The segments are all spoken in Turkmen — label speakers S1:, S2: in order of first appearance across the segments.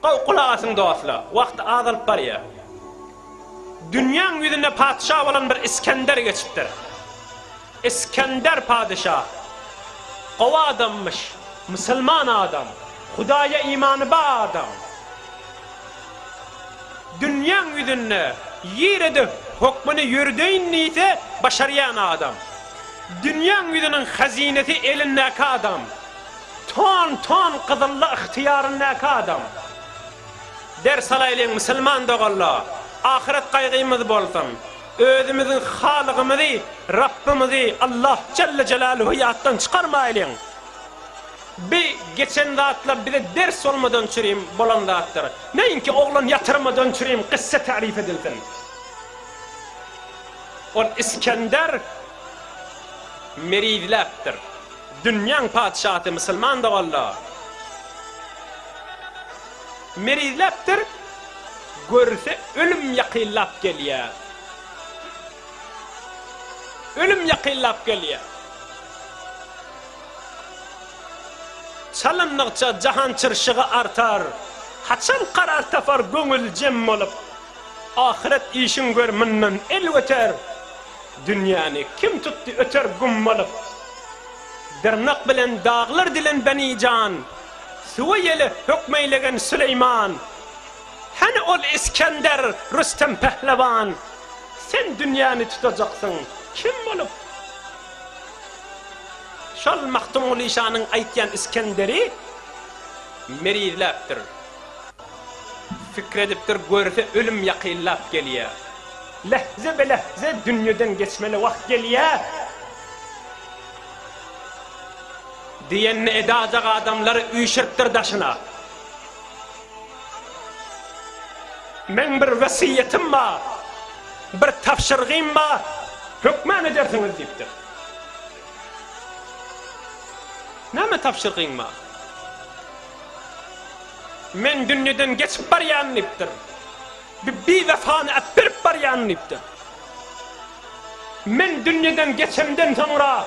S1: Gowy gulak asyň dostlar, wagt azalyp barýar. Dünýäň ýüzünde patyşa bolan bir Isgender geçipdir. Isgender patyşa gowy adammyş, musulman adam, Hudaýa imany ba adam. Dünýäň ýüzünde ýerede hökmüni ýörüdeýin diýse başarýan adam. Dünýäň ýüzüniň hazinesi elindäki adam. Ton ton gyzylla ygtyýaryndaky adam. Ders alaýlyň musulman doganlar, ahyret gaýgymyz bolsun. Özümiziň Halygymyzy, Rabbimizi Allah jelle jelaluhu ýatdan çykarmaýlyň. Bi geçen zatlar bize ders bolmadan çürim bolan zatdyr. Näinki oglan ýatyrmadan çürim kyssa tarif edilsin. Ol Isgender merizläpdir. Dünýäň patyşasy musulman dogalla. Merizläpdir, görse ölüm ýakynlap gelýä. Ölüm ýakynlap gelýä. Çalyndygyça jahan çyrşygy artar, haçan karar tapar göňül jem bolup. Ahyret işin gör mundan el göter Dünýäni kim tutdy öter gum bolup Dyrnak bilen daglar dilen beni jan Suwa ýele hökmeýlegen Süleýman Hany ol Isgender Rüstem Pehlewan Sen dünýäni tutajaksyň kim bolup Şol Magtymguly şanyň aýtýan Isgenderi merizläpdir. Pikir edipdir, görse ölüm ýakynlap gelýä. Lähze be lähze dünýeden geçmeli wagt gelýä. Diýenini edajak adamlary üýşüripdir daşyna. Meň bir wesýetim bar, bir tabşyrygym bar, hökman edersiňiz diýipdir. Näme tabşyrgyň bar? Men dünýeden geçip barýan diýipdir. Bu biwefany äpdirip barýan diýipdir. Men dünýeden geçemden soňra,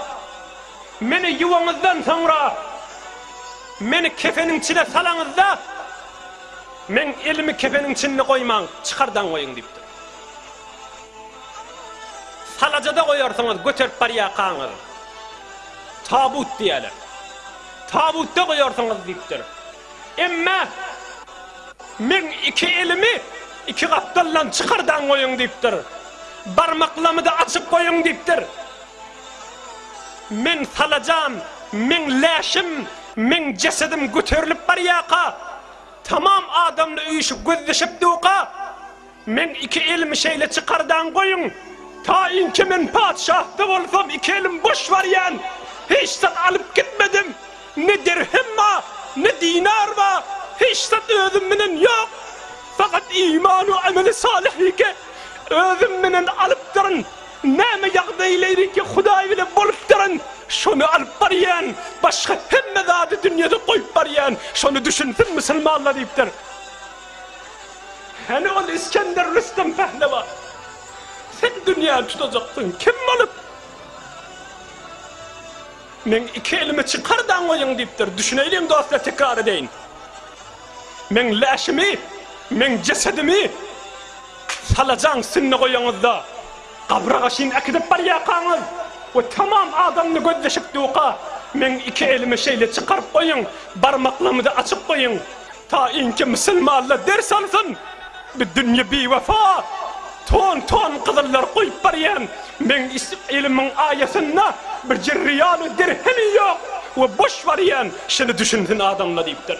S1: meni ýuwaňyzdan soňra, meni kefeniň içine salaňyzda, meň elimi kefeniň içinde goýmaň, çykardan goýuň diýipdir. Salajada goýarsyňyz, göterip barýarkaňyz, tabut diýerler. Tabutda goýarsyňyz diýipdir. Emme, Men iki elimi iki gapdaldan çykardan goýuň diýipdir. Barmaklamyda açyp goýuň diýipdir. Men salajam, meň läşim, meň jesedim göterilip barýaka, tamam adamly üýşüp gözleşip duka, Meň iki elimi şeýle çykardan goýuň, taýynki men patyşahda bolsam iki elim boş barýan, hiç zat alyp gitmedim, ne dirhem ba, ne dinar ba, hiç zat özüm bilen ýok, fakat iman we ameli salyhyke özüm bilen alypdyryn, näme ýagdaýlaryke Hudaý bilen bolupdyryn, şony alyp barýan, başga hemme zady dünýede goýup barýan, şony düşünsin musulmanlar diýipdir. Hany ol Isgender Rüstem Pehlewan? Sen dünýäni tutajaksyň kim bolup? Meň iki elimi çykar daň goýuň diýipdir. Düşüneýliň dostlar tekrar edeýin. Meň läşimi, meň jesedimi salajaň üstünde goýaňyzda gabra gaşyn äkidip barýakaňyz we tamam adamly gözleşik ýuka meň iki elimi şeýle çykaryp goýuň barmaklamyda açyp goýuň. Taýynky musulmanlar ders alsyn! Bu dünýe biwefa! Ton-ton gyzyllar goýup barýan meňis ilimiň aýasynda birje riýaly dirhemi ýok we boş barýan, şuny düşünsin adamlar diýipdir.